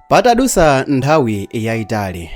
patadusa nthawi yayitali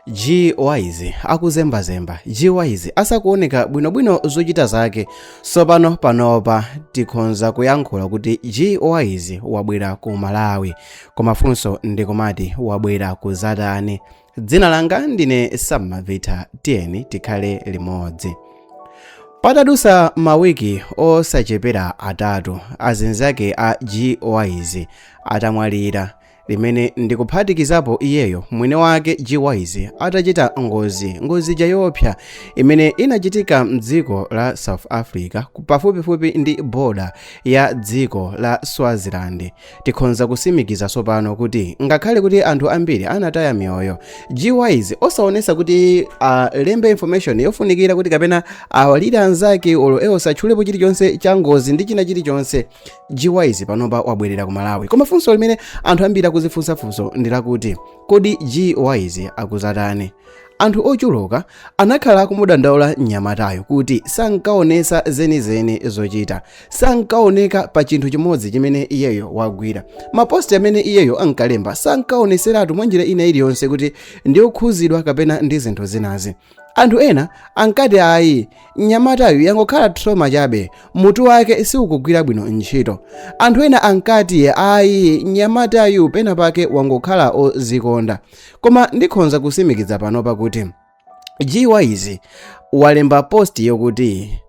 g wise akuzembazemba g wise asakuoneka bwinobwino zochita zake sopano panopa tikhonza kuyankhula kuti g wise wabwera ku malawi koma funso ndikumati wabwera kuzatani dzina langa ndine sammavita tiyeni tikhale limodzi patadusa mawiki osachepera atatu azinzake a gwise atamwalira zimene ndikuphatikizapo iyeyo mwini wake gwise atachita ngozi ija yoopsa imene inachitika mdziko la south africa pafupifupi ndi boda ya dziko la swaziland Tikhonza kusimikiza tsopano kuti ngakhale kuti anthu ambiri anataya miyoyo, G-Wise osaonesa kuti alembe uh, information yofunikira kuti kapena awalire uh, anzake olo ewo satchulepo chilichonse cha ngozi ndi china chilichonse. G-Wise panopa wabwerera ku Malawi. Koma funso limene anthu ambiri akuzifunsafunsa ndi lakuti kodi G-Wise akuzatani? anthu ochuluka anakhala akumudandaula mnyamatayu kuti sankaonesa zenizeni zochita sankaoneka pa chinthu chimodzi chimene iyeyo wagwira maposti amene iyeyo ankalemba sankaoneseratu mwa njira ina iliyonse kuti ndi okhuzidwa kapena ndi zinthu zinazi anthu ena ankati ayi mnyamatayu yangokhala trauma chabe mutu wake siukugwira bwino ntchito anthu ena ankati ayi mnyamatayu pena pake wangokhala ozikonda koma ndikhonza kusimikiza panopa kuti g wise walemba post yokuti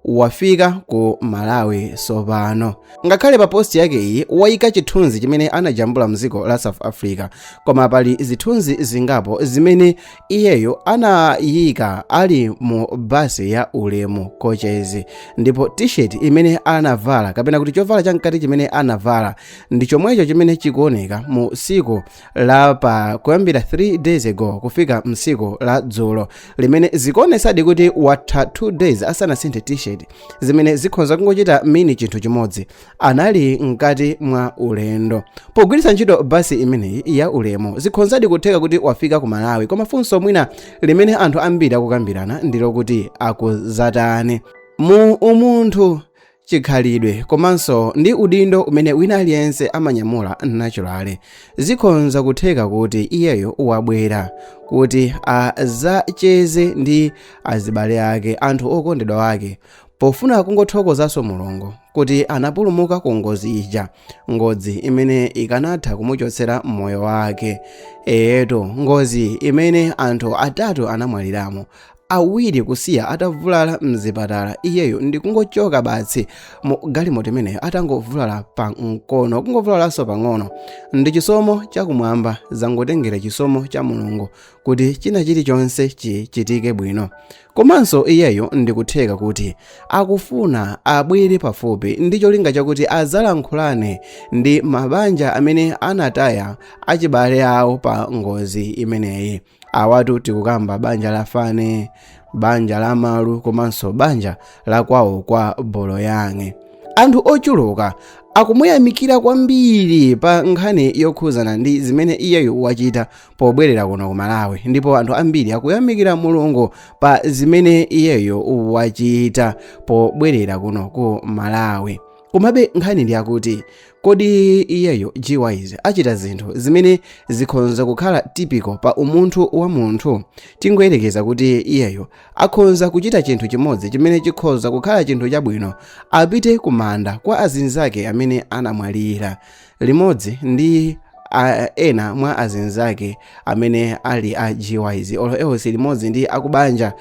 wafika ku malawi sopano ngakhale pa post yake iyi wayika chithunzi chimene anajambula mdziko la south africa koma pali zithunzi zingapo zimene iyeyo anayika ali mu basi ya ulemu coaches ndipo t-shirt imene anavala kapena kuti chovala chamkati chimene anavala ndi chomwecho chimene chikuoneka mu siku la pa kuyambira 3 days ago kufika msiku la dzulo limene zikuonesadi kuti watha 2 days asanasinthe t-shirt zimene zikhonza kungochita mean chinthu chimodzi anali mkati mwa ulendo pogwiritsa ntchito basi imeneyi ya ulemu zikhonzadi kutheka kuti wafika ku malawi koma funso mwina limene anthu ambiri akukambirana ndi lokuti akuzatani mu umunthu chikhalidwe komanso ndi udindo umene wina aliyense amanyamula naturally zikhonza kutheka kuti iyeyo wabwera kuti azacheze ndi azibale ake anthu okondedwa ake pofuna kungothokozanso mulungu kuti anapulumuka ku ngozi ija ngozi imene ikanatha kumuchotsera moyo wake eyetu ngozi imene anthu atatu anamwaliramo awiri kusiya atavulala mzipatala iyeyo ndikungochoka basi mu galimoto imeneyo atangovulala pa mkono kungovulalanso pang'ono ndi chisomo chakumwamba zangotengera chisomo cha mulungu kuti china chilichonse chichitike bwino komanso iyeyo ndikutheka kuti akufuna abwere pafupi ndi cholinga chakuti azalankhulane ndi mabanja amene anataya achibale awo pa ngozi imeneyi awatu tikukamba banja la fane banja la malu komanso banja la kwawo kwa boloyange anthu ochuluka akumuyamikira kwambiri pa nkhani yokhuzana ndi zimene iyeyo wachita pobwerera kuno ku malawi ndipo anthu ambiri akuyamikira mulungu pa zimene iyeyo wachita pobwerera kuno ku malawi komabe nkhani ndi yakuti kodi iyeyo gyz achita zinthu zimene zikhonza kukhala typical pa umunthu wa munthu tingoyerekeza kuti iyeyo akhonza kuchita chinthu chimodzi chimene chikhoza kukhala chinthu chabwino apite kumanda kwa azinzake amene anamwalira limodzi ndi a, ena mwa azinzake amene ali a gyz olo else limodzi ndi akubanja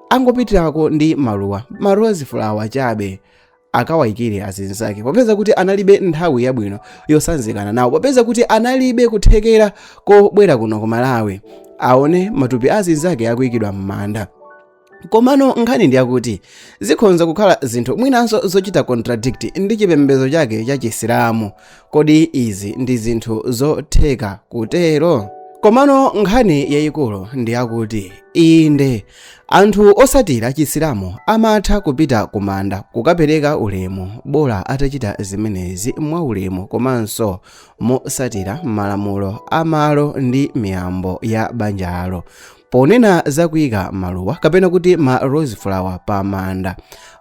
angopitirako ndi maluwa ma rose flower chabe akawayikire azinzake popeza kuti analibe nthawi yabwino yosanzikana nawo popeza kuti analibe kuthekera kobwera kuno ku malawi aone matupi azinzake akuyikidwa m'manda komano nkhani ndi yakuti zikhonza kukhala zinthu mwinanso zochita contradict ndi chipembedzo chake cha chisilamu kodi izi ndi zinthu zotheka kutero komano nkhani yayikulu ndi yakuti inde Anthu osatira chisilamu amatha kupita kumanda kukapereka ulemu bola atachita zimenezi mwa ulemu komanso mosatira malamulo a malo ndi miyambo ya banjalo. Ponena za kuika maluwa kapena kuti ma rose flower pa manda,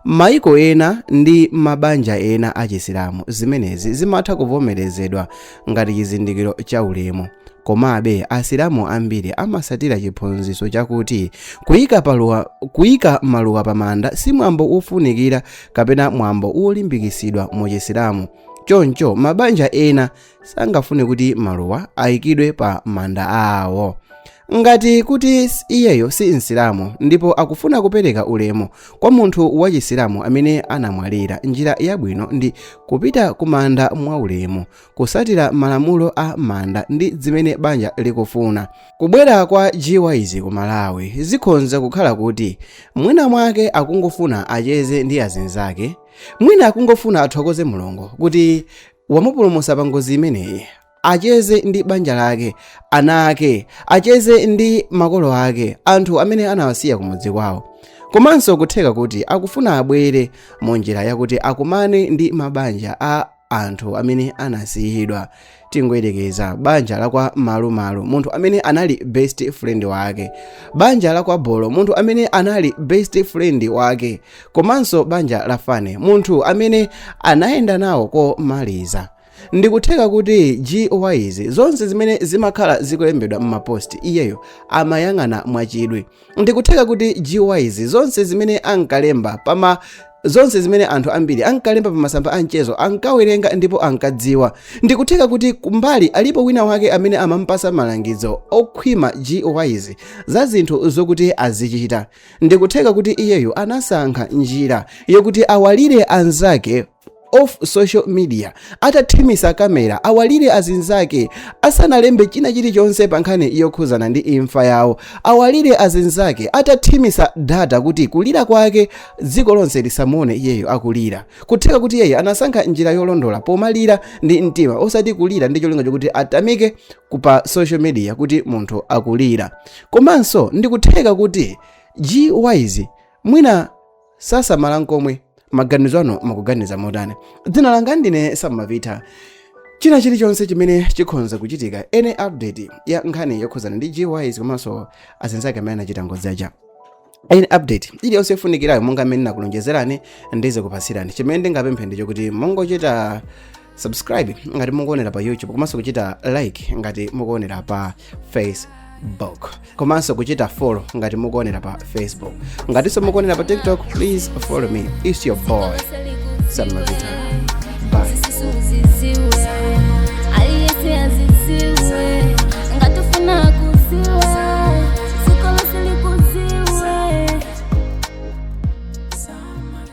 Mayiko ena ndi mabanja ena achisilamu, zimenezi zimatha kuvomerezedwa ngati chizindikiro cha ulemu. Komabe, Asilamu ambiri amatsatira chiphunzitso chakuti kuika paluwa, kuika maluwa pamanda si mwambo wofunikira kapena mwambo wolimbikitsidwa mu Chisilamu. Choncho, mabanja ena sangafune kuti maluwa aikidwe pa manda awo. ngati kuti s- iyeyo si msilamu ndipo akufuna kupereka ulemu kwa munthu wa chisilamu amene anamwalira njira yabwino ndi kupita ku manda mwaulemu kusatira malamulo a manda ndi zimene banja likufuna kubwera kwa gyz ku malawi zikhonza kukhala kuti mwina mwake akungofuna acheze ndi azinzake mwina akungofuna athokoze mulungu kuti wamupulumutsa pa ngozi imeneyi acheze ndi banja lake ana ake acheze ndi makolo ake anthu amene anawasiya kumudzi kwawo komanso kutheka kuti akufuna abwere mu njira yakuti akumane ndi mabanja a anthu amene anasiyidwa tingoyerekeza banja la kwa malumalu munthu amene anali best friend wake banja la kwa bolo munthu amene anali best friend wake komanso banja la fane munthu amene anayenda nawo komaliza Ndikutheka kuti gwise zonse zimene zimakhala zikulembedwa mmapost iyeyo amayang'ana mwachidwi. Ndikutheka kuti gwise zonse zimene ankalemba pama zonse zimene anthu ambiri ankalemba pa masamba a mchezo ankawerenga ndipo ankadziwa. Ndikutheka kuti kumbali alipo wina wake amene amampasa malangizo okhwima gwise za zinthu zokuti azichita. Ndikutheka kuti iyeyo anasankha njira yokuti awalire anzake off social media atathimisa kamera awalire azinzake asanalembe china chilichonse pa nkhani yokhuzana ndi imfa yawo awalire azinzake atathimisa data kuti kulira kwake dziko lonse lisamuone iyeyo akulira kutheka kuti iyeyo anasankha njira yolondola pomalira ndi mtima osati kulira ndi cholinga chokuti atamikeke pa social media kuti munthu akulira komanso ndikutheka kuti gwise mwina sasamala nkomwe maganizo anu mukuganiza motani dzina langa ndine samavita china chilichonse chimene chikhonza kuchitika any update ya nkhani yokhuzana ndi gwise komanso azinzake amene anachita ngozi aja any update iliyonse yofunikirayo monga mmene nakulonjezerani ndizikupatsirani chimene ndingapemphe ndi chokuti mungochita subscribe ngati mukuonera pa youtube komanso kuchita like ngati mukuonera pa facebook komanso kuchita follow ngati mukuonera pa facebook ngatinso mukuonera pa tiktok please follow me its your boy samavita bye